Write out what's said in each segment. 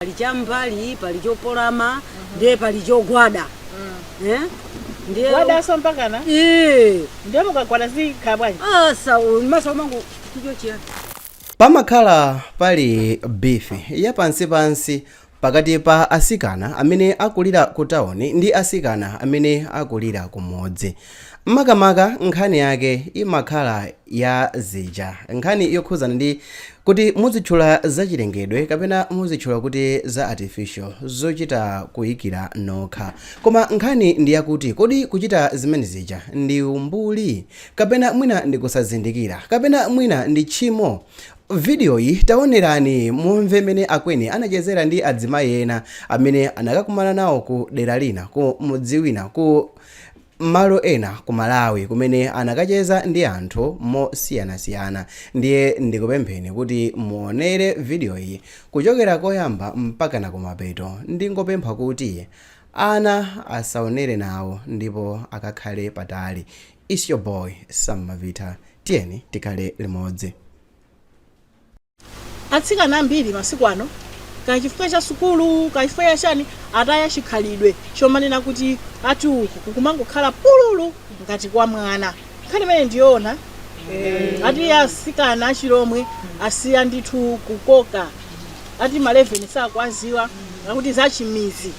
pali cham'mbali pali chopolama ndiye pali chogwada Eh? ndiye gwada so mpakana Eh, ndiye mukagwada zikhala bwanji asa maso mangu chicho chiyani pamakhala pali bifi yapansipansi pakati pa asikana amene akulira ku tawuni ndi asikana amene akulira ku mudzi makamaka nkhani yake imakhala ya zija. Nkhani yokhuzana ndi Kuti muzitchula za chilengedwe kapena muzitchula kuti za artificial zochita kuikira nokha. Koma nkhani ndi yakuti kodi kuchita zimene zija ndi umbuli? Kapena mwina ndi kusazindikira? Kapena mwina ndi tchimo? Video yi taonerani mumve mmene Akweni anachezera ndi adzimayi ena amene anakakumana nawo ku dera lina ku mudzi wina ku malo ena ku Malawi kumene anakacheza ndi anthu mosiyanasiyana ndiye ndikupempheni kuti muonere video yi kuchokera koyamba mpakana kumapeto ndingopempha kuti ana asaonere nawo ndipo akakhale patali its your boy Sam Mavitha tiyeni tikhale limodzi. Atsikana ambiri masiku ano, kaya chifukwa cha sukulu, kaya chifukwa cha chani, ataya chikhalidwe chomanena kuti ati uku kukumangokhala pululu ngati kwa mwana. Nkhani imene ndiyoona eh, ati asikana achilomwe asiya ndithu kukoka ati maleveni sakuwaziwa akuti zachimizi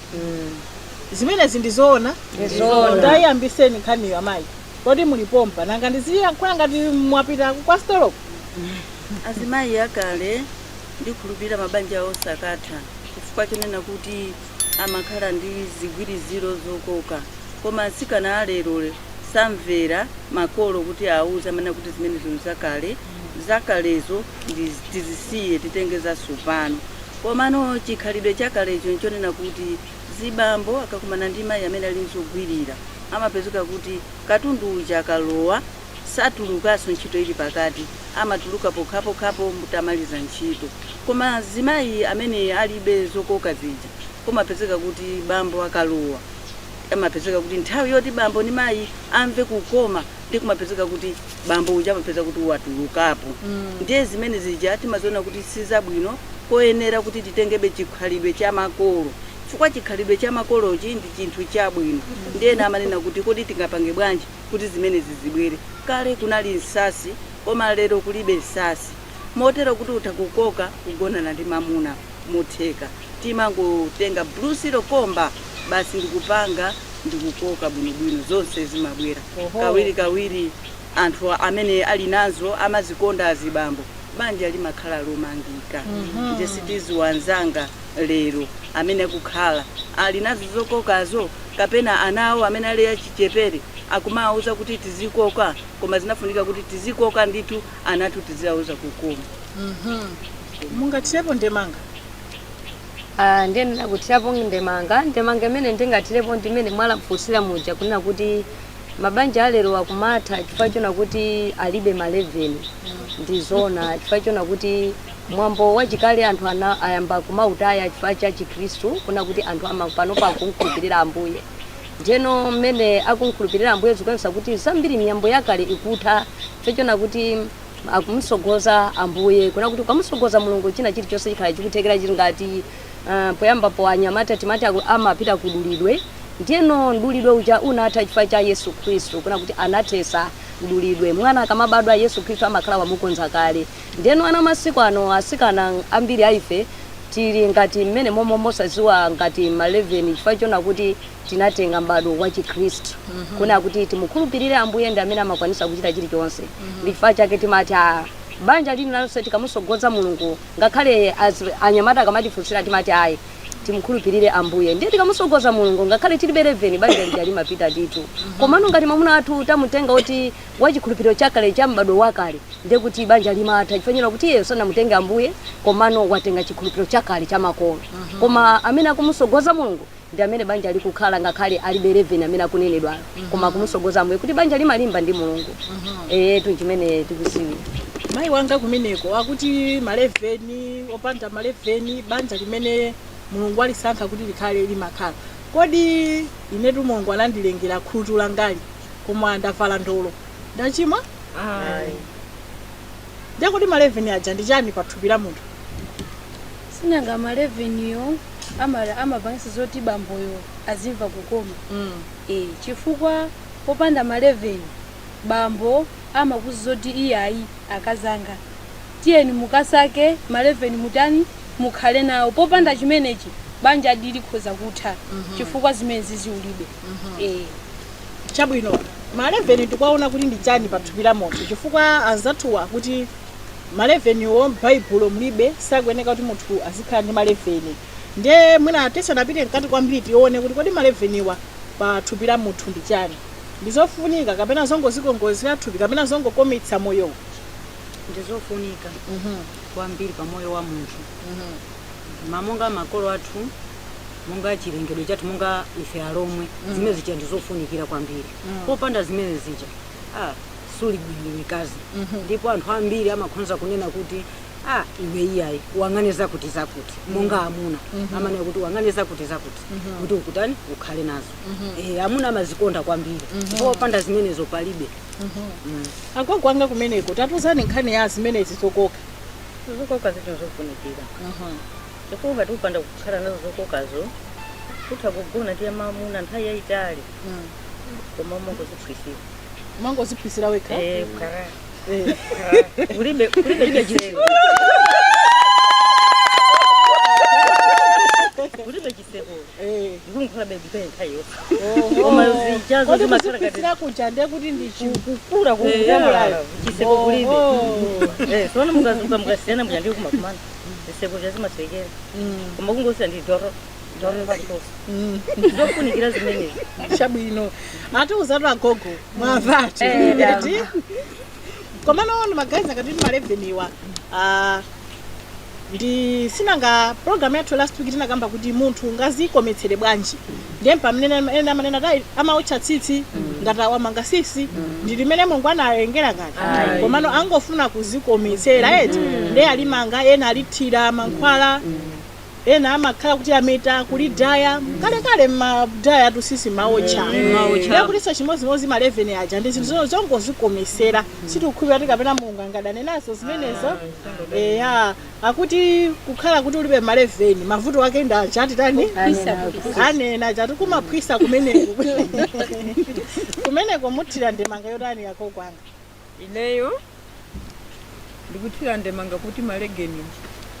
zimenezi ndizoona Ndizoona. Tayiyambiseni nkhaniyo amayi Kodi muli pompa? Nanga ndiziyankhula ngati mwapita kwa stolo? Azimayi akale ndikhulupirira mabanja osakatha chifukwa chonena kuti amakhala ndi zigwiriziro zokoka. Koma atsikana a lero samvera makolo kuti awauze amanena kuti zimenezi nzakale, zakalezo tizisiye titenge zatsopano. Komano chikhalidwe chakalecho nchonena kuti zibambo akakumana ndi mayi amene ali ndi zogwirira amapezeka kuti katundu uja akalowa satulukaso ntchito ili pakati amatuluka pokhapokhapo mutamaliza ntchito koma azimayi amene alibe zokoka zija kumapezeka kuti bambo akalowa amapezeka kuti nthawi yoti bambo ndi mayi amve kukoma ndiye kumapezeka kuti bambo uja amapeza kuti watulukapo Mm. ndiye zimene zija timaziona kuti sizabwino koyenera kuti titengebe chikhalidwe cha makolo chifukwa chikhalidwe cha makolochi ndi chinthu chabwino ndiye ena amanena kuti kodi tingapange bwanji kuti zimenezi zibwere kale kunali nsatsi koma lero kulibe nsatsi motero kuti utha kukoka kugonana ndi mamuna motheka timangotenga blue silo komba basi ndikupanga ndikukoka bwinobwino zonse zimabwera Oho. kawiri kawiri anthu amene ali nazo amazikonda azibambo banja limakhala lomangika Mhm. ndiye sitiziwa anzanga lero amene akukhala ali nazo zokokazo kapena ana awo amene ali achichepere akumawauza kuti tizikoka koma zinafunika kuti tizikoka ndithu anatu tidzauza kukoma mungathirepo ndemanga Ah, ndiye nditha kuthirapo ndemanga ndemanga imene ndingathirepo ndi imene mwafunsira muja kunena kuti mabanja alero akumatha chifukwa chona kuti alibe maleveni ndi zona chifukwa chona kuti mwambo wachikale anthu ayamba kumautaya chifukwa cha chikhristu kunena kuti anthu ama- panopa akumkhulupirira ambuye Ndiyeno mmene akum'khulupirira Ambuye zikuonesa kuti zambiri miyambo yakale ikutha, chifukwa chona kuti akum'sogoza Ambuye. Kunena kuti ukamusogoza Mulungu china chilichonse chikhala chikuthekera chili ngati, uh, poyambapo anyamata timati aku, amapita kudulidwe, ndiyeno mdulidwe uja unatha chifukwa cha Yesu Khristu, kunena kuti anathesa mdulidwe. Mwana akamabadwa, Yesu Khristu amakhala wamukonza kale. Ndiyeno ana masiku ano, asikana ambiri a ife tili ngati mmenemomo osaziwa ngati ma 11 chifukwa chona kuti tinatenga m'badwo wa chikhristu kunena kuti timukhulupirire Ambuye ndi amene amakwanitsa kuchita chilichonse. Ndi chifukwa chake timati ah, banja lililonse tikamusogoza Mulungu ngakhale anyamata akamatifunsira timati ayi, timukhulupirire Ambuye. Ndiye tikamusogoza Mulungu ngakhale tilibe 11 banja lija limapita ndithu. Komano ngati mwamuna wathu tamutenga oti wa chikhulupiriro chakale cha m'badwo wakale, ndiye kuti banja limatha chifukwa chonena kuti iyeyo sanamutenge Ambuye komano watenga chikhulupiriro chakale cha makolo. Koma amene akumusogoza Mulungu ndi amene banja likukhala ngakhale alibe 11 amene akunenedwayo. Koma akumusogoza Ambuye kuti banja limalimba ndi Mulungu. Eyetu ndi chimene tikuziwira. mayi wanga kumeneko akuti maleveni opanda maleveni banja limene mulungu alisankha kuti likhale limakhala kodi inetu mulungu anandilengera khutu langali koma ndavala ndolo ndachimwa Ayi. ndiye kodi ma 11 aja ndi chani pa thupi la munthu sinanga ma 11 yo ama- amapangisa zoti bamboyo azimva kukoma mm. e, chifukwa popanda ma 11 bambo amakuuza zoti iyayi akazanga tiyeni mukasake ma 11 mutani mukhale nawo popanda chimenechi banjadi likhoza kutha chifukwa zimene zizi ulibe e. Chabwino, maleveni tikuwaona kuti ndi chani pa thupi la munthu? Chifukwa anzathuwa akuti maleveniwo m'Baibulo mulibe, sakuyeneka kuti munthu azikhala ndi maleveni. Nde mwina tisanapite mkati kwambiri tione kuti kodi maleveniwa pa thupi la munthu ndi chani? Ndi zofunika kapena zongozikongoletsera thupi kapena zongokometsa moyowo? Ndi zofunika kwambiri pa moyo wa munthu. Ma monga makolo athu. monga chilengedwe chathu monga ife alomwe mm. zimene zija ndi zofunikira kwambiri mm. popanda zimene zija ah, suli bwino mkazi mm -hmm. ndipo anthu ambiri amakhonza kunena kuti ah, iwe iyayi wang'ane zakuti zakuti mm. monga amuna mm -hmm. amanena kuti wang'ane zakuti zakuti mm -hmm. kuti ukutani ukhale nazo mm -hmm. e, amuna amazikonda kwambiri mm -hmm. popanda zimenezo palibe mm -hmm. mm. agogo anga kumeneko tatiuzani nkhani ya zimenezi zokoka zokoka zinthu zofunikira mm -hmm. chifukwa ukati upanda kukhala nazo zokokazo kutha kugona ndi amamuna nthawi yayitali Mm. koma umangoziphwisira umangoziphwisira wekha Eh, kukhala- Eh. kukhala- kulibe kulibe chitseko kulibe chitseko kodi muzipitira kuja ndiye kuti ndi chikukula kukula chiseko kulibe Eh, tiona mukadzuka mukasiyana muja ndiyo kumakumana ziseko zazimasekera koma kungosira ndi doro doro patosa ndofunikira zimenezi chabwino atiuzatu agogo mwamvatu Eh, eti komano magaizi akuti maleveniwa ndi si nanga program yathu last week tinakamba kuti munthu angazikometsere bwanji ndiye pamene ena amanena kuti amaotcha tsitsi ngati awa amanga tsitsi ndi limene mulungu analengera ngati Ayi. komano angofuna kuzikometsera eti ndiye alimanga ena alithira mankhwala Ena amakhala kuti ameta kulidaya kalekale mmadaya tsitsi mmaotcha ndiye kutinso chimodzimodzi ma 11 aja ndi zinthu zo- zongozikomesera sitikukhulupirira kuti kapena mulungu angadane nazo zimenezo eya akuti kukhala kuti ulibe ma 11 mavuto ake ndi achati tani anena achati kumaphwisa kumeneko kumeneko muthira ndemanga yotani agogo anga Ineyo ndikuthira ndemanga kuti maleveni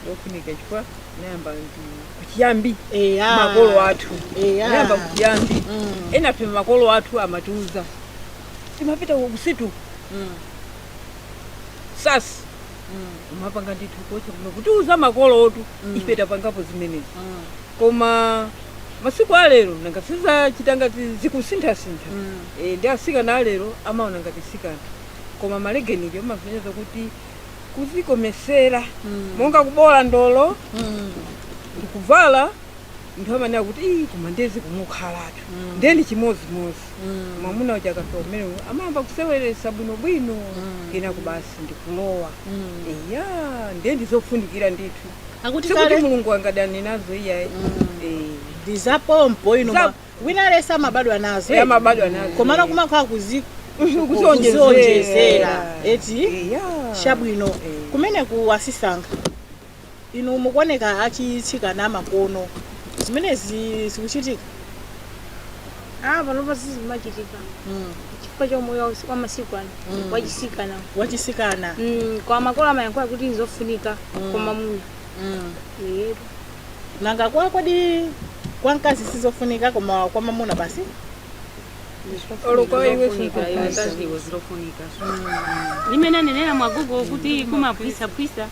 ndofunika chifukwa nayamba kuchiyambi Eya. makolo athu Eya. nayamba kuchiyambi Mm. enafe makolo athu amatiuza timapita kunsitu Mm. sasi Mm. umapanga ndithu kocha kuno kutiuza makolo athu Mm. ife tapangapo zimenezi Mm. koma masiku alero nanga si za chisanga zi- zikusinthasintha Mm. E, ndi atsikana a lero amaona ngati sikanthu koma maleveni aja amasonyeza kuti kuzikomesera mm. monga kuboola ndolo mm. ndikuvala nthu amanena kuti ii koma nde zikumukhalatu mm. nde ndi chimodzimodzi mm. mwamuna uja akafika kumenewo amayamba kuseweretsa bwinobwino mm. kenako basi ndikulowa mm. eya ndiye ndizofunikira ndithu Akuti sikuti kale- mulungu angadane nazo iyayi mm. e. ndizapompo ino Za- ma- Wina aliyense amabadwa nazo. Eh, amabadwa nazo. Komano kumakhala kuzi Kuzionjezera. kuzionjezera. Eti Eh, ya. chabwino Eh. kumene kuwasisankha inu mukuoneka achitsikana amakono ano zimenezi zikuchitika Ah, panopa sizimachitika mm. chifukwa cha umoyo wa masiku ano Mm. wachisikana wachisikana Mm, kwa makolo amayankhula kuti nzofunika Mm. koma munya mm. Yebo. nanga kwa kodi kwa mkazi sizofunika koma kwa mamuna basi Olo kwa iwe Zofunika, iwe sizofunika. kazi iwe ndizofunika mmene anenera agogo kuti kumaphwisaphwisa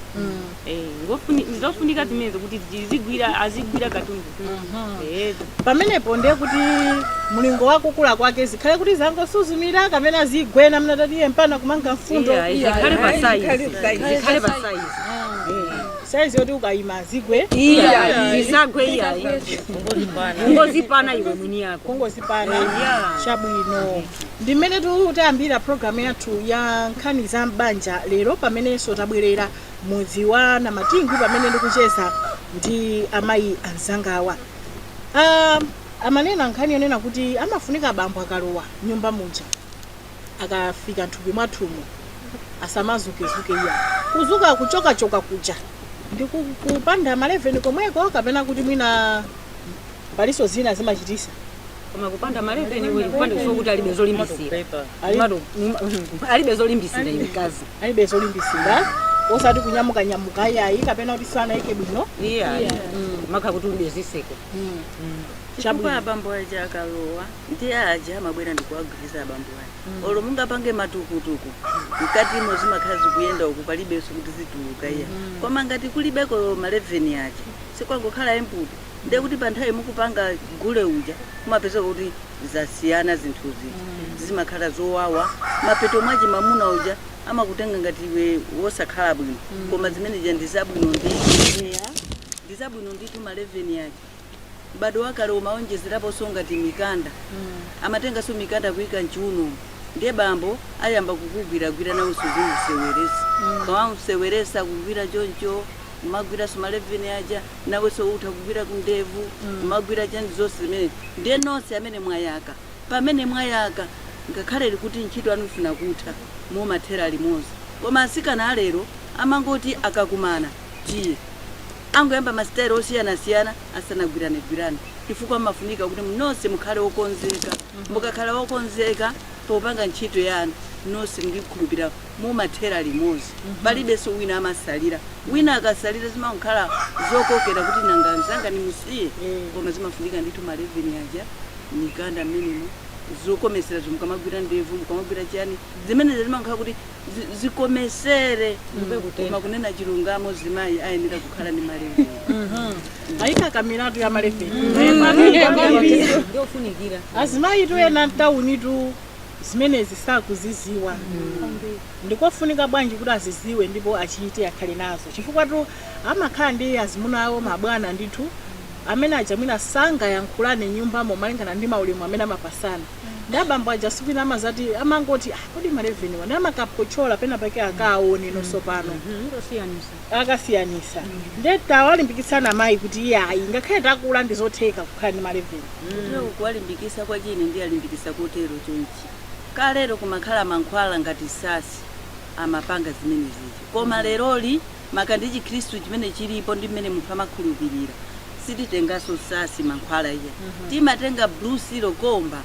Eh, ngofuni- ndizofunika zimenezo kuti zizigwira azigwira katundu Eh, pamenepo ndiye kuti mlingo wakukula kwake zikhale kuti zangosuzumira kapena zigwena mnatatiye mpaka kumanga mfundo iya, zikhale pa size zikhale pa size saizi yoti ukayima zigwe Iya, zisagwe iya. Ungozipana iwe mwini wake. kungozipana Yeah. chabwino ndi mmene tikutayambira programu yathu ya nkhani za m'banja lero pamenenso tabwerera m'mudzi wa Namatingu pamene ndikucheza ndi amayi anzangawa Ah, amanena nkhani yonena kuti amafunika abambo akalowa nyumba muja akafika nthupi mwathumu asamazukezuke iya kuzuka kuchokachoka kuja ndi ku- kupanda maleveni komweko kapena kuti mwina paliso zina zimachitisa koma kupanda maleveni iwe kupanda kusowa kuti alibe zolimbisira Ali- Mado- mm, mm, alibe zolimbisira iwe mkazi alibe zolimbisira osati kunyamuka nyamuka iyayi kapena kuti sanayike bwino iya umakhala kuti ulibe ziseko chifukwa abambo aja akalowa ndiye aja amabwera ndikuwagwiriziza abambo aja mm. olo mungapange matukutuku mkatimo zimakhala zikuyenda uku palibenso kuti zituluke iya mm. koma ngati kulibeko maleveni aja sikwangokhala empty ndiye kuti pa nthawi mukupanga gule uja kumapezeka kuti zasiyana zinthu zija mm. zimakhala zowawa mapeto mwake mamuna uja amakutenga ngati iwe wosakhala bwino mm. koma zimene zija ndi zabwino ndi ndi zabwino ndithu maleveni aja M'badwo wakale umawonjezeraponso ngati mikanda. Amatenganso mikanda kuika m'chiunomu ndiye bambo ayamba kukugwiragwira nawenso uzimuseweresa. Ukamamseweresa akugwira choncho, umagwiranso maleveni aja, nawenso utha kugwira kundevu, kumagwira chani zonse zimene. Ndiye nonse amene mwayaka, pamene mwayaka ngakhale kuti ntchito yanu ifuna kutha, mumathera limodzi. Koma atsikana a lero amangoti akakumana, tiye. Angoyamba ma style osiyanasiyana asanagwiranegwirane chifukwa mmafunika kuti nonse mukhale okonzeka. Mukakhala okonzeka popanga ntchito yanu nonse ndikhulupira mumathera limodzi palibenso wina amasalira. Wina akasalira zimangokhala zokokera kuti nanga nzanga ndimusiye koma zimafunika ndithu ma leveni aja, mikanda mmenemo, zokometserazo ukamagwira ndevu, ukamagwira chiyani zimenezo zimangokhala kuti. zi- zikomesere koma kunena chilungamo zimayi ayenera kukhala ndi maleveni ayi ka kamiratu ya maleveni ndofunikira azimayitu ena mtawunitu zimenezi sakuziziwa ndikofunika bwanji kuti aziziwe ndipo achite akhale nazo chifukwatu amakhala ndi azimuna awo mabwana ndithu amene aja mwina sangayankhulane nyumbamo malingana ndi maulemu amene amapasana ndi abambo aja si kwina amazati amangoti "Ah, kodi maleveni wa ndiye amakaphotchola pena pake akaone nonso pano akasiyanisa nde tawalimbikitsana amayi kuti iyayi ngakhale takula ndizotheka kukhala ndi maleveni kuwalimbikisa kwache ine ndiwalimbikisa kotero chonchi kalero kumakhala mankhwala ngati sasi amapanga zimenezizo koma leroli maka ndi chikhristu chimene chilipo ndi mmene munthu amakhulupirira sititenganso sasi mankhwala iyayi timatenga blue seal komba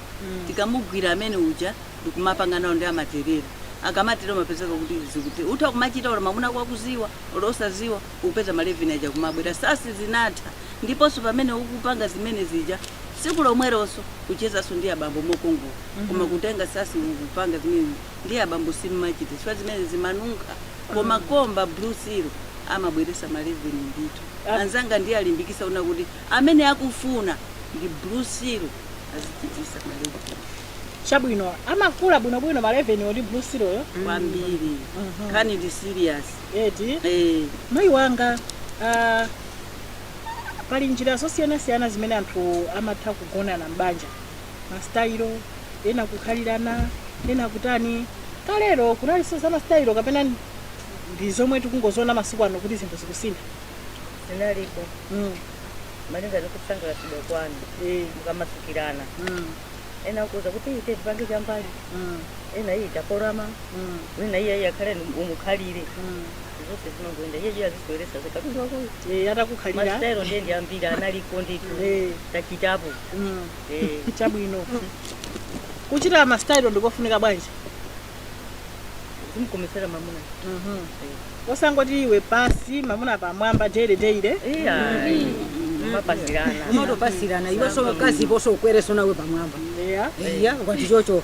tikamugwira amene uja ndikumapanga nawo nde amaterera akamatero umapezeka kuti zikuti utha kumachita olo mamuna wako akuziwa olo osaziwa upeza maleveni aja kumabwera sasi zinatha ndiponso pamene ukupanga zimene zija tsiku lomweronso uchezanso ndi abambo mokongola koma kutenga sasi ukupanga zimene ndi abambo simmachita chifukwa zimene zimanunkha koma kwa mba blue seal amabweresa ma leveni ndithu anzanga ndiwalimbikisa kuna kuti amene akufuna ndi blue seal azichitisa ma leveni chabwino amakula bwinobwino ma leveni wo ndi blue seal yo kwambiri nkhani ndi serious eti eh mayi wanga ah, pali njira zosiyanasiyana zimene anthu amatha kugonana m'banja masitayilo ena kukhalirana ena kutani kalero kunalinso za masitayilo kapena ndi zomwe tikungoziona masiku ano kuti zinthu zikusintha zinalipo mm. malinga ndikusangalatsidwa kwanu eh, mukamasukirana mm, ena akuuza kuti iyi tipange chambali mm, ena iyi taporama mm, wina iye iye akhale ni- umukhalire mm. zonse zimangoenda iye iye azisweresa zokatuzakoyo Eh, atakukhalira masitayilo ndiye ndi ambiri analiko ndithu Eh. tachitapo Mm, eh, chabwino kuchita masitayilo ndikofunika bwanji zimkomesera mamuna Mhm. osangoti iwe pasi mamuna pamwamba daily daily iya mapasirana umatopasirana iweso kazi poso ukwereso nawe pamwamba yeah. iya ukati chocho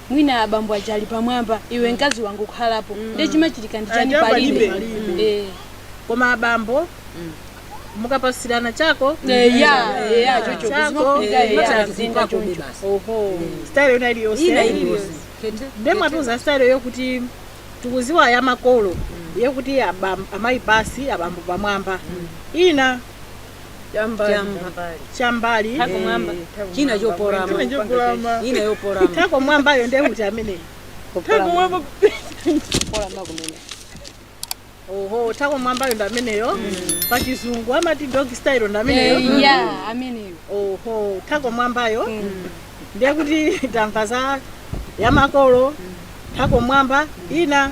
mwina abambo aja ali pamwamba iwe mkazi wangokhalapo nde chimachitika ndi chani Aja palibe palibe. Eh. koma abambo mukapasirana chako Eh, ya eh, ya chocho Chako, zimafunika eh, ya chako zinda chako choncho basi. oho style yona ina iliyonse iliyonse Kete- nde mwatiuza style yokuti tikuziwa ya makolo yokuti abam- amayi pasi abambo pamwamba ina chambali Chamba. chambali Eh, Thako mwamba. thako mwamba. china choporama China choporama. ina yoporama thako mwambayo ndiye kuti amene Thako mwamba. Porama kumene oho thako mwambayo ndi ameneyo pa chizungu amati dog style ndi ameneyo Eh, yeah, ameneyo oho thako mwambayo ndiye kuti tamva za yamakolo thako mwamba ina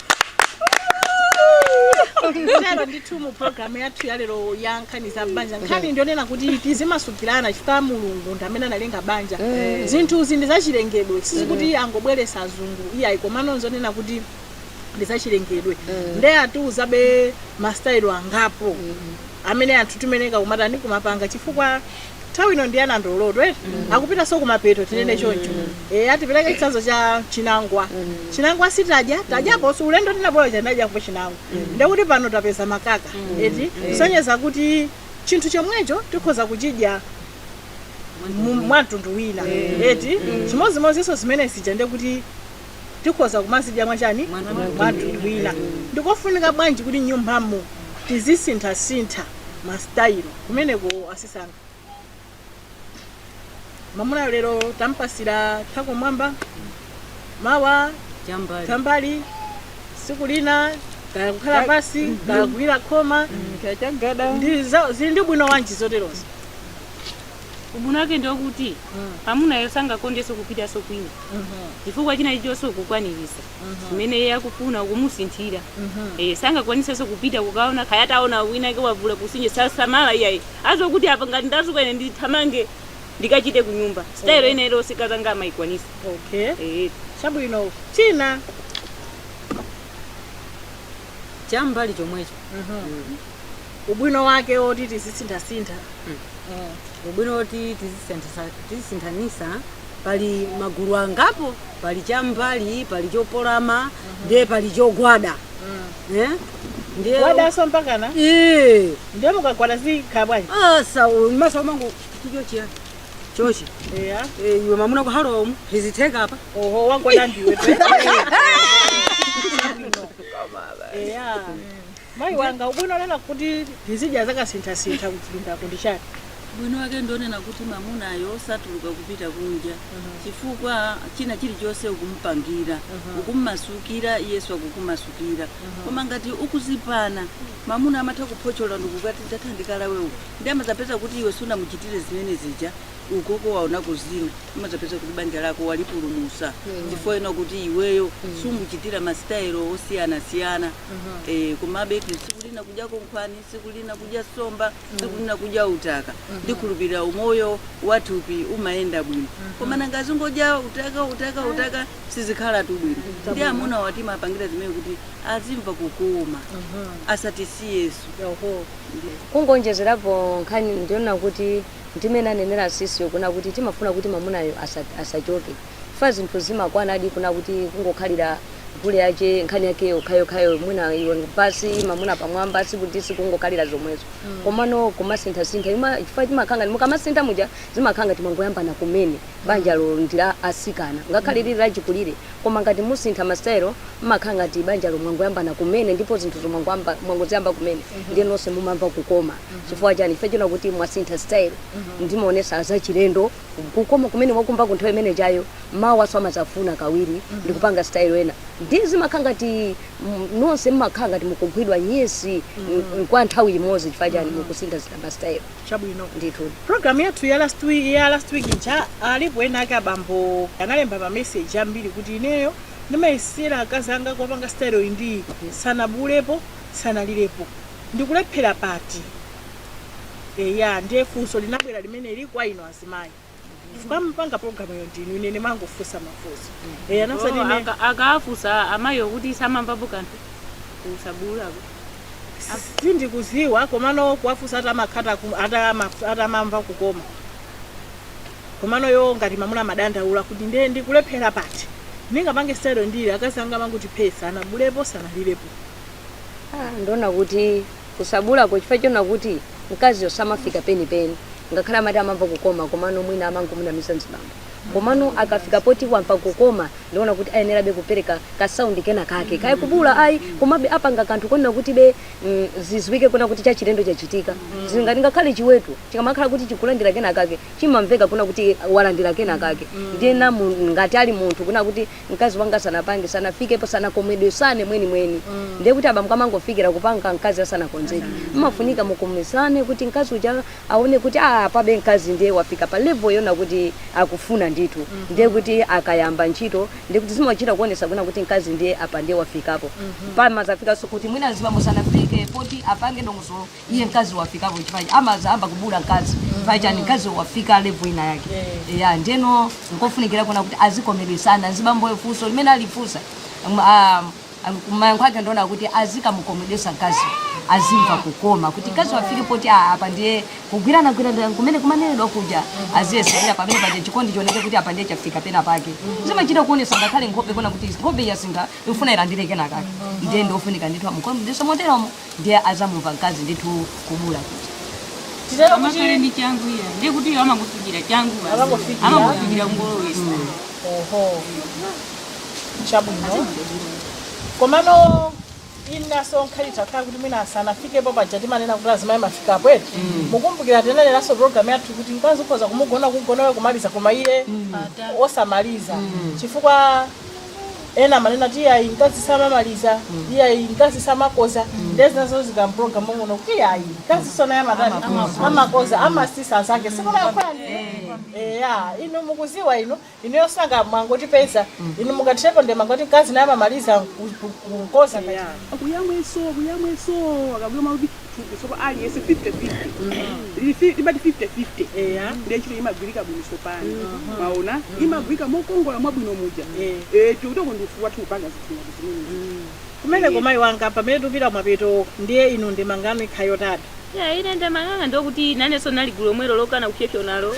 lero ndithu mu programu yathu yalero ya nkhani za banja nkhani ndionena kuti tizimasukirana chifukwa mulungu ndi amene analenga banja zinthu izi ndi zachilengedwe sizikuti angobweresa azungu iyayi komano nzonena kuti ndi zachilengedwe nde atiuzabe masitayilo angapo amene anthu timayeneka kumatani kumapanga chifukwa Nthawi ino ndi ya nandolotu eti akupitanso kumapeto tinene choncho eya tipereke chitsanzo cha chinangwa chinangwa sitadya tadyaponso ulendo tinabwera uja tinadyapo chinangwa ndekuti pano tapeza makaka eti kusonyeza kuti chinthu chomwecho tikhoza kuchidya mu- mwa mtundu wina eti chimodzimodzinso zimene zija ndekuti tikhoza kumazidya mwachani mwamtundu wina ndikofunika bwanji kuti nyumbamo tizisinthasintha ma style kumeneko azisankha mamunayo lero tampasira thako mwamba mawa chambali chambali siku lina kaya kukhala pasi kaya kugwira khoma chagada ndi za- zili ndi ubwino wanji zoterozo Ubwino wake ndi okuti amunayo sangakondenso kupitanso kwina chifukwa china chilichonse ukukwanilisa zimene iye akufuna ukumusinthira eh, sangakwanisenso kupita kukaona kaya ataona wina ake wavula kusinje sasamala iyayi azoti apa ngati ndazukwa ine ndithamange ndikachite kunyumba sitayilo ina iliyonse akazanga amayikwanisa okay eh. chabwino china chambali chomwecho Mhm. ubwino wake woti tizisinthasintha Eh, ubwino woti tizisinthanisa pali magulu angapo pali chambali pali chopolama ndiye pali chogwada Eh? ndiye wadaso mpakana Eh, ndiye mukagwada zimakhala bwanji asa masa umangu chichochiya chochi eya Eh, iwe mamuna kuhalomu hizitheka apa oho wagwada ndiwe eya mayi wanga ubwino wonena kuti tizidya zakasinthasintha kuchipindako ndi chani bwino wake ndionena kuti mamunayo osatuluka kupita kunja chifukwa china chilichonse ukumupangira ukumumasukira iyeso akukumasukira koma ngati ukuzipana mamuna amatha kuphochola ndikukati ndatha ndikalawe uku ndiye amazapeza kuti iwe sunamuchitire zimene zija ukoko waonako zina umazapeza kuti banja lako walipulumusa chifukwa chonena kuti iweyo sumuchitira masitayelo osiyanasiyana Eh, komabe eti tsiku lina kudya kankhwani tsiku lina kudya somba tsiku lina kudya utaka ndikhulupirira umoyo wathupi umayenda bwino koma nanga azingodya utaka utaka utaka sizikhalatu bwino ndiye amunawa timawapangira zimene kuti azimva kukoma asatisiyeso Oho. kungonjezerapo nkhani ndi yonena kuti ndimene anenera sisiyo kunena kuti timafuna kuti mamunayo asa- asachoke chifukwa zinthu zimakwanadi kunena kuti kungokhalira gule wache nkhani yake yokhayokhayo mwina iwe basi mamuna pamwamba sikuti sikungokhalira zomwezo mm. komano kumasinthasintha chifukwa chimakhala ngati mukamasintha muja zimakhala ngati mwangoyambana kumene banjalo mm. ndi la asikana ngakhale mm. lili lachikulire koma ngati musintha masitayilo mmakhala ngati banjalo mwangoyambana kumene ndipo zinthuzo mwangoziyamba kumene mm -hmm. ndiye nonse mumamva kukoma mm -hmm. chifukwa chani chifukwa chonena kuti mwasintha style mm -hmm. ndimaonesa zachilendo kukoma kumene wakumvako nthawi imene ijayo mawanso amazafuna kawiri mm -hmm. ndikupanga style ina ndiye zimakhala ngati mm, nonse mmakhala ngati mukugwidwa nyesi mm -hmm. kwa nthawi imodzi chifukwa chani mm -hmm. mukusintha sinthama style chabwino ndithu program yathu ya last week ija alipo ena ake abambo analemba ma message ambiri kuti ineyo ndimayesera akazi anga kuwapanga style iyi ndi sanabuulepo sanalirepo ndikulephera pati eya ndiye funso linabwera limeneli kwa inu azimayi chifukwa mupanga programuyo ndinu ine ndimangofunsa mafunso eya nakusati Oh, ine aka- akawafunsa amayiwo kuti samamvapo kanthu kusabuulako sindikuziwa komano kuwafunsa atamakhata atamamva kukoma komano iwo ngati mamuna amadandaula kuti ndiye ndikulephera pati ndingapange sitayilo iti akazi anga amangoti phetsa sanabuulepo sanalirepo Ah, ndiona kuti Kusabuulako chifukwa chonena kuti mkaziyo samafika penipeni ngakhale amati amamva kukoma komano mwina amangomunamiza mzibambo komano akafika poti wamva kukoma ndiona kuti ayenerabe kupereka ka sound kena kake kaya kubuula ayi komabe apange kanthu konena kuti be mm, zizwike kuna kuti chachilendo chachitika zili ngati ngakhale chiweto chikamakhala kuti chikulandira kena kake chimamveka kuna kuti walandira kena kake ndiye nanga ngati ali munthu kuna kuti mkazi wanga asanapange sanafikepo sanakomedwesane mwenimweni ndiye kuti abambo akamangofikira kupanga mkazi asanakonzeke mmafunika mukomedwesane kuti mkazi uja aone kuti "Ah, apabe mkazi ndiye wafika pa level yona kuti akufuna ndithu ndiye kuti akayamba ntchito ndiye kuti zimachita kuonesa kuna kuti mkazi ndiye apa ndiye wafikapo amazafikanso kuti mwina azibambo sanafike poti apange dongosolo iye mkazi wafikapo chifukwa amazayamba kubuula mkazi paja ndi mkazi wafika level ina yake eya ndiyeno nkofunikira kuna kuti azikomeresana azibambo funso limene alifunsa um, ah, um, mayankho ake ndiona kuti azikamukomedesa mkazi azimva kukoma kuti mkazi wafike poti ah, apa ndiye kugwirana gwirana kumene kumanenedwa kuja aziyesera pamene paja chikondi chioneke kuti apa ndiye chafika pena pake zimachita kuonesa ngakhale nkhope kuna kuti nkhope yasintha ifuna ilandire kenakake ndiye ndiofunika ndithu amukomedese moteromo ndiye azamumva mkazi ndithu kubuula kuja titero kuti amakhala ndi changu eya ndiye kuti iwo amangofikira changu basi. Amangofikira. amangofikira ngolowesa oho chabwino komano inaso nkhani itakhala kuti mwina sanafikepo paja timanena kuti azimayi mmafikapo eti mukumbukira tinanenanso program yathu kuti mkazi ukhoza kumugona kugonawe kumaliza koma iye osamaliza chifukwa ena amanena kuti iyayi mkazi samamaliza iyayi mkazi samakoza ndiye zinazo zili mprogramu muno kuti iyayi mkaziso naye amatani amakoza amasisa zake sikunakwani eya inu mukuziwa inu inu yosanga mwangoti phetsa inu mukatirepo nde mangoti mkazi naye amamaliza ku- ku- kukoza kaya kuyamweso kuyamweso akabwira makuti thupi sopano aliyense 50-50 Lili fi- timati 50-50 eya ndiye ntchito imagwirika bwino sopano mwaona imagwirika mokongola mwabwino muja Eh. Eh, tikutoko ndi ufulu wathu kupanga zinthu ngati zimenezi kumene komayi wanga pamene tupita kumapeto ndiye inu ndemanga yanu ikhala yotani ya ine ndemanga yanga ndokuti nanenso nali gulu lomwelo lokana kupyopyonalo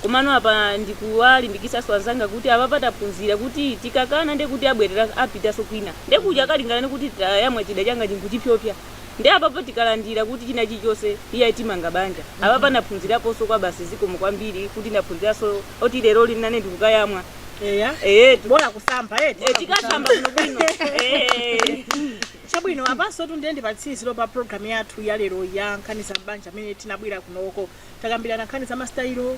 komano apa ndikuwalimbikisaso anzanga kuti apa pataphunzira kuti tikakana ndekuti abwerera apitaso kwina ndekuti akalingalire kuti tayamwa chida changa ndinkuchipyopya Ndiye apapo tikalandira kuti chinachilichonse iyayi timanga banja. Apapa naphunziraponso kwabasi zikomo kwambiri kuti naphunziranso oti leroli nane ndikukayamwa. Eya. Eyetu. Bola kusamba eti. Eh, tikasamba bwinobwino. Eh. Chabwino apansotu ndiye ndi patsiziro pa program yathu ya lero ya nkhani za m'banja amene tinabwera kunoko. takambirana nkhani za masitayilo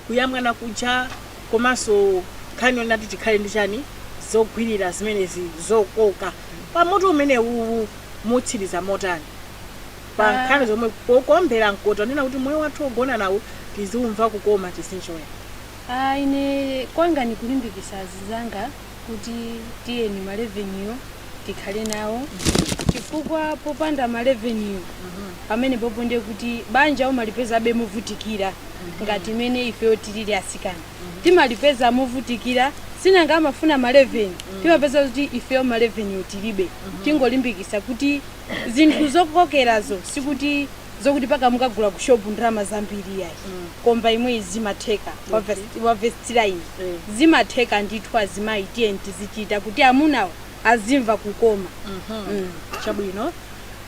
kuyamwana kuja komanso nkhani yonena kuti tikhale ndi chani zogwirira zimenezi zokoka pa mutu umenewuwu mutsiriza motani pa Ah. nkhani zomwe pokombera mkota kunena kuti moyo wathu wogona nawo tiziumva kukoma tizinjoya Ah, ine kwanga ndikulimbikisa azizanga kuti tiyeni maleveniyo tikhale nawo chifukwa popanda maleveniyo pamenepopo ndiye kuti banja umalipezabe movutikira ngati mmene ifeyo tilili asikana timalipeza movutikira sinanga amafuna maleveni timapeza kuti ifeyo maleveniyo tilibe tingolimbikisa kuti zinthu zokokerazo sikuti zokuti paka mukagula ku shop ndalama zambiri yayi khomba yomweyi zimatheka Wa verse- wa verse 3 iyi Eh. zimatheka ndithu azimayi tiyeni tizichita kuti amunawo azimva kukoma Mm. chabwino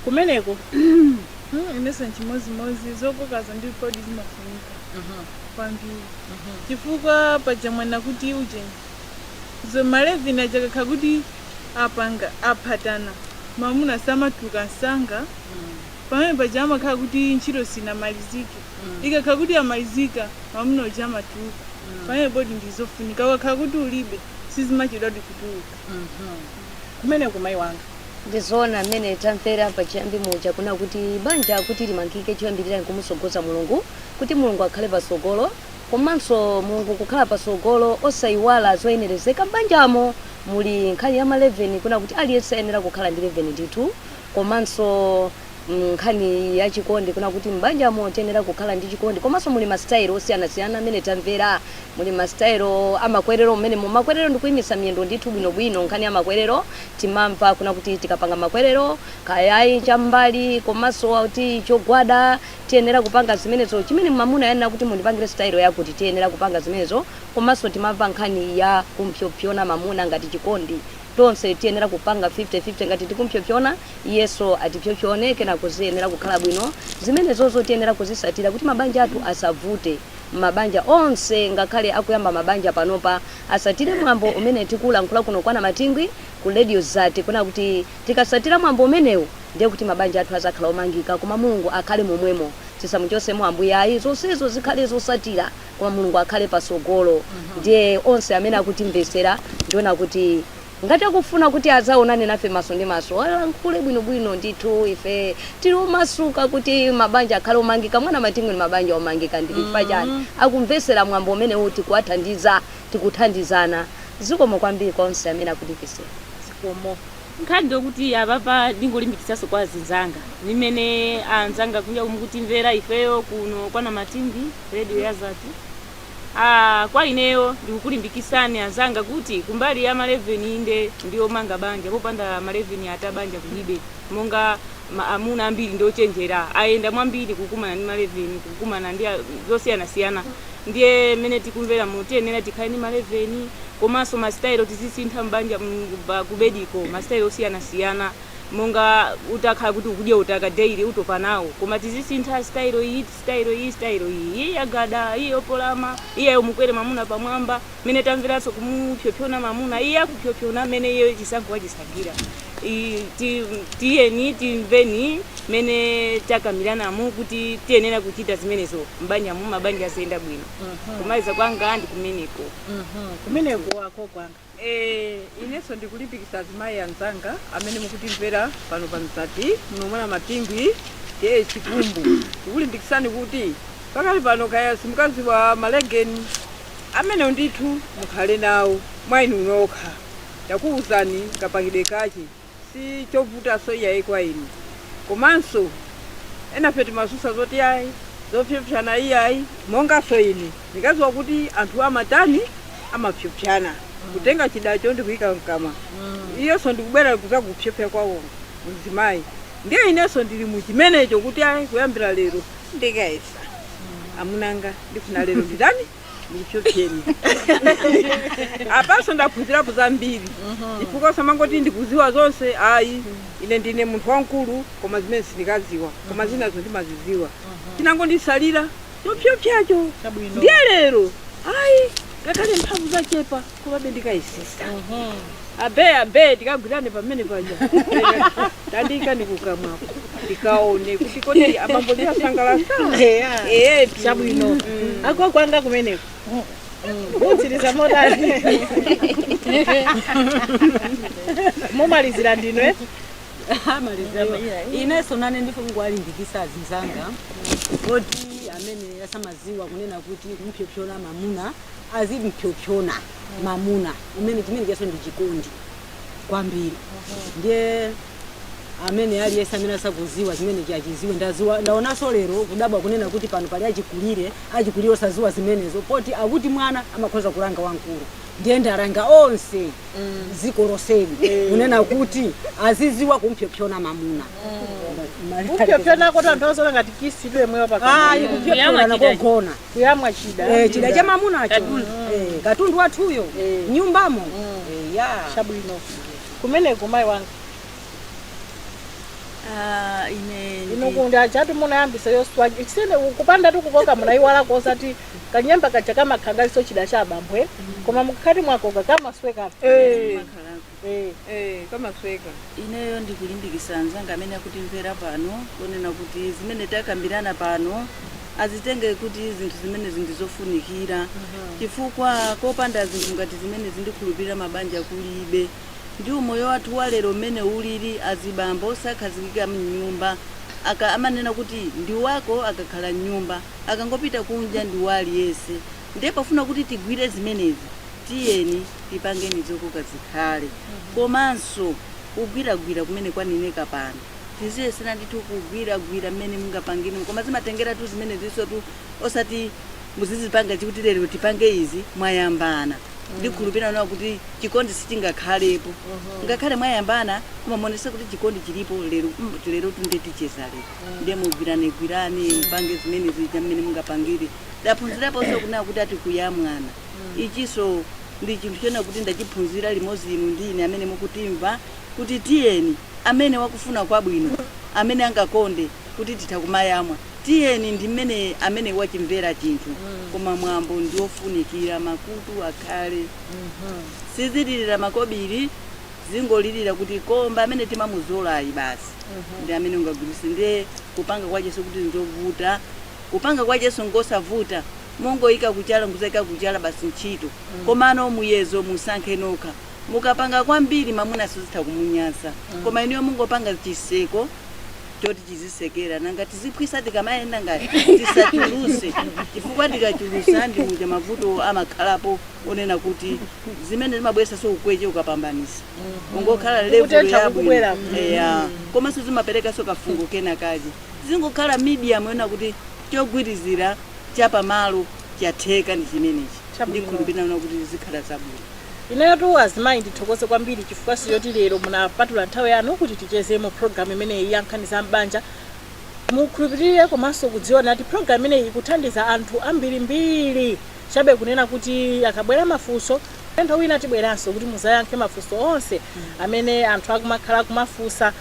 kumeneko Mm, inenso nchimodzimodzi zokokazo ndi zoonadi zimafunika kwambiri chifukwa paja amanena kuti ujeni maleveni aja akakhala kuti apanga aphatana mamuna samatuluka msanga Pamene paja amakhala kuti ntchito sinamalizike. Ikakhala kuti yamalizika, mwamuna uja amatuluka. Pamene poti ndi zofunika. Ukakhala kuti ulibe, sizimachedwadi kutuluka. Kumeneko mayi wanga. Ndizoona mmene tamvera pachiyambi muja kunena kuti banja kuti limangike choyambilira nkumutsogoza Mulungu kuti Mulungu akhale patsogolo komanso Mulungu kukhala patsogolo osaiwala zoyenerezeka mbanjamo muli nkhani ya maleveni kunena kuti aliyense ayenera kukhala ndi leveni ndithu Komanso nkhani ya chikondi kuna kuti m'banjamo tiyenera kukhala ndi chikondi. Komanso muli masitayilo osiyanasiyana amene tamvera. Muli masitayilo a makwerero m'menemo. Makwerero ndi kuyimitsa miyendo ndithu bwinobwino. Nkhani ya makwerero timamva kuna kuti tikapanga makwerero kaya ayi cham'mbali komanso kuti chogwada tiyenera kupanga zimenezo. Chimene mamuna wanena kuti mundipangire sitayilo yakuti tiyenera kupanga zimenezo. Komanso timamva nkhani ya kumpsopsona mamuna ngati chikondi. Tonse tiyenera kupanga 50 50 ngati tikumpsopsona iyenso atipsopsone kenako ziyenera kukhala bwino zimenezozo tiyenera kuzisatira kuti mabanja athu asavute mabanja onse ngakhale akuyamba mabanja panopa asatire mwambo umene tikulankhula kuno kwa Anamatingwi ku Radio Zati kunena kuti tikasatira mwambo umenewu ndiye kuti mabanja athu azakhala omangika koma Mulungu akhale momwemo tisamuchosemo Ambuye ayi zonsezo zikhale zosatira koma mulungu akhale pasogolo ndiye onse amene akutimvesera ndiona kuti ngati akufuna kuti azaonane nafe maso ndi maso alankhule bwinobwino ndithu ife tili omasuka kuti mabanja akhale omangika mwa namatingwi ni mabanja omangika ndi chifukwa chani akumvesera mwambo umenewu tikuwathandiza tikuthandizana zikomo kwambiri kwa onse amene akutimvesera zikomo Nkhani ndiyokuti apapa ndingolimbikitsaso kwa azinzanga nimene anzanga kunjako mukutimvera ifeyo kuno kwa Namatingwi radio ya Mzati aah kwa ineyo ndikukulimbikisani anzanga kuti kumbali ya maleveni inde ndiomanga banja popanda maleveni ata banja kulibe monga amuna ambiri ndiochenjera ayenda mwambiri kukumana ndi maleveni kukumana ndi zosiyanasiyana Ndiye mmene tikumveramo tiyenera tikhale ndi maleveni komanso masitayelo tizisintha m'banja mm, pa kubediko masitayelo osiyanasiyana monga utakhala kuti ukudya utaka daily utopa nawo koma tizisintha sitayelo iyi sitayelo iyi sitayelo iyi iyi yagada iyi yopolama iyi yomukwera mamuna pamwamba mmene tamveranso kumupyopyona mamuna iye akupyopyona mmene iyeyo chisankho wachisankhira Tiyeni timveni mmene takambiranamu kuti tiyenera kuchita zimenezo m'banjamu, mabanja aziyenda bwino. Kumaliza kwanga ndi kumeneko. Kumeneko ako kwanga. Eh, inenso ndikulimbikitsa azimayi anzanga amene mukutimvera pano pa Mzati, muno mwa Namatingwi, T.A. Chikumbu. Ndikulimbikitsani kuti pakali pano kaya simukadziwa maleveni amenewo ndithu mukhale nawo mwa inu nokha. takuuzani kapangidwe kache si chovutaso iyayi kwa inu komanso enafe timasusa zoti ayi zopyopyana iyayi mongaso ine ndikaziwa kuti anthu amatani amapyopyana kutenga chidacho ndikuyika mkamwa iyeso ndikubwera kuzakupyopya kwawo mzimayi ndiye ineso ndili muchimenecho kuti ayi kuyambira lero ndikayesa amunanga ndifuna lero nditani ndikupyopyeni apanso ndaphunzirapo zambiri chifukwa samangoti ndikuziwa zonse ayi ine ndine munthu wamkulu koma zimene sindikaziwa koma zinazo ndimaziziwa chinangondisalira chopyopyacho ndiye lero ayi ngakhale mphamvu zachepa komabe ndikayesesa abe abe tikagwirane pamene paja tandiyikani kukamwako ndikaone kuti kodi abambo ndiasangalasa ehe chabwino ako kwanga kumeneko utsiriza motani mumalizira ndinu eh? ineso nane ndifuna kuwalimbikisa azinzanga kuti amene asamaziwa kunena kuti kumpyopyona mamuna azimphyophyona mamuna umene chimene chaso ndi chikondi kwambiri ndiye amene aliyense amene asakuziwa zimene achiziwe ndaonanso lero kudabwa kunena kuti pano pali achikulire achikulire osaziwa zimenezo poti akuti mwana amakhoza kulanga wamkulu ndiye ndalanga onse dziko loseli kunena kuti aziziwa kumphyophyona mamuna kuphyophyonako tonthozola ngati kisi ipemewa ayi kuphyophyona kogona kuyamwa chida Eh, chida cha mamunacho Katundu. Eh, katundu wathuyo Eh. nyumbamo Eh, ya chabwino kumeneko mayi wanga Ah, ine ndi- inokundi achati munayambisa yoswa chisene kupanda tu kukoka munayiwala kosati kanyemba kaja kamakhandaliso chida cha abambwe koma mukati mwakoka kamasweka makhalako. Ineyo ndikulimbikisa anzanga amene akutimvera pano kunena kuti zimene takambirana pano azitenge kuti zinthu zimenezi ndi zofunikira chifukwa kopanda zinthu ngati zimenezi ndikhulupirira mabanja kulibe. Ndi umoyo wathu wa lero mmene ulili, azibambo sakhazikika mnyumba amanena kuti ndi wako akakhala mnyumba akangopita kunja ndi wa aliyese. Ndiye pofuna kuti tigwire zimenezi, tiyeni tipangeni zokoka zikhale. Komanso kugwiragwira kumene kwaneneka pano, tiziyesera ndithu kugwiragwira mmene mungapangire, koma zimatengeratu zimenezisotu, osati muzizipanga chi kuti lero tipange izi, mwayambana. Ndikhulupirira kunena kuti chikondi sichingakhalepo ngakhale mwayambana, koma kumaonetsa kuti chikondi chilipo lero, mm, lerotu ndiye ticheza lero. Ndiye mugwiranegwirane, mupange zimene zija mmene mungapangire. Ndaphunziraponso kunena kuti ati kuyamwana. Ichinso ndi chinthu chonena kuti ndachiphunzira limodzi inu ndi ine amene mukutimva kuti tiyeni amene wakufuna kwabwino, amene angakonde kuti titha kumayamwa, tiyeni ndi mmene amene wachimvera chinthu. Koma mwambo ndi wofunikira, makutu akhale. Sizilirira makobiri, zingolirira kuti koo mba amene timamuzolayi basi ndi amene ungagwiritse. Ndiye kupanga kwache sikuti n'zovuta. Kupanga kwacheso nkosavuta mongoika kuchala nkuzaika kuchala basi ntchito mm. komano muyezo musankhe nokha mukapanga kwambiri mamuna zitha kumunyasa mm. koma inuyo mungopanga chiseko choti chizisekera nanga tiziphwisa tikamayenda ngati tisachuluse chifukwa tikachulusa ndi muja mavuto amakhalapo onena kuti zimene zimabwesaso ukweche ukapambanisa mm-hmm. ungokhala level yabwino mm-hmm. eya komanso zimaperekaso kafungo kena kaje Zingokhala medium yonena kuti chogwirizira cha pamalo chatheka ndi chimenechi. Chabwino. Ndikhulupirira kuti zikhala zabwino. Ineyotu azimayi ndithokoze kwambiri chifukwanso choti lero munapatula nthawi yanu kuti ticheze mu program imeneyi ya nkhani za m'banja. Mukhulupirire komanso kudziwa kuti program imeneyi ikuthandiza anthu ambirimbiri. Chabe kunena kuti akabwera mafunso, ulendo wina tibweranso kuti muzayankhe mafunso onse amene anthu akumakhala akumafunsa.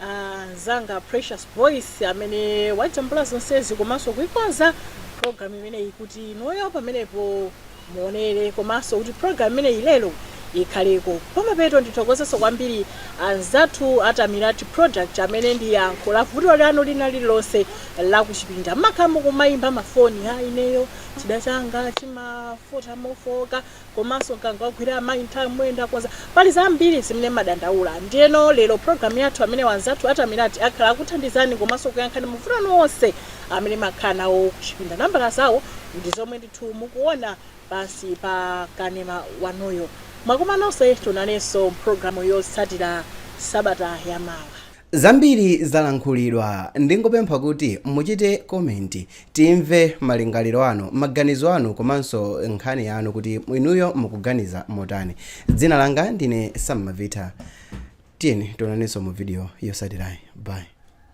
Anzanga Precious Voice amene wajambula zonsezi komanso kuikonza program imeneyi kuti inuyo pamenepo muonere komanso kuti program imeneyi lero ikhaleko. Pamapeto ndithokozenso kwambiri anzathu a Tamirati Product amene ndi yankho la vuto lanu lina lililonse la kuchipinda. Mmakhala mukumayimba mafoni, aa ineyo chida changa chimafota mofowoka. komanso mkango wagwira amayi nthawi mmene ndakonza pali zambiri zimene mmadandaula ndiyeno lero program yathu amene anzathu a Tamirati akhala akuthandizani komanso kuyankha mavuto anu onse amene mmakhala nawo kuchipinda nambala zawo ndi zomwe ndithu mukuona pansi pa kanema wanuyo mwakomanonso tionanenso mpulogalamu yotsatira sabata yamawa Zambiri zalankhulidwa ndingopempha kuti muchite comment timve malingaliro anu, maganizo anu komanso nkhani yanu kuti inuyo mukuganiza motani. Dzina langa ndine Sam Mavitha tiyeni tionanenso mu video yotsatirayi bye.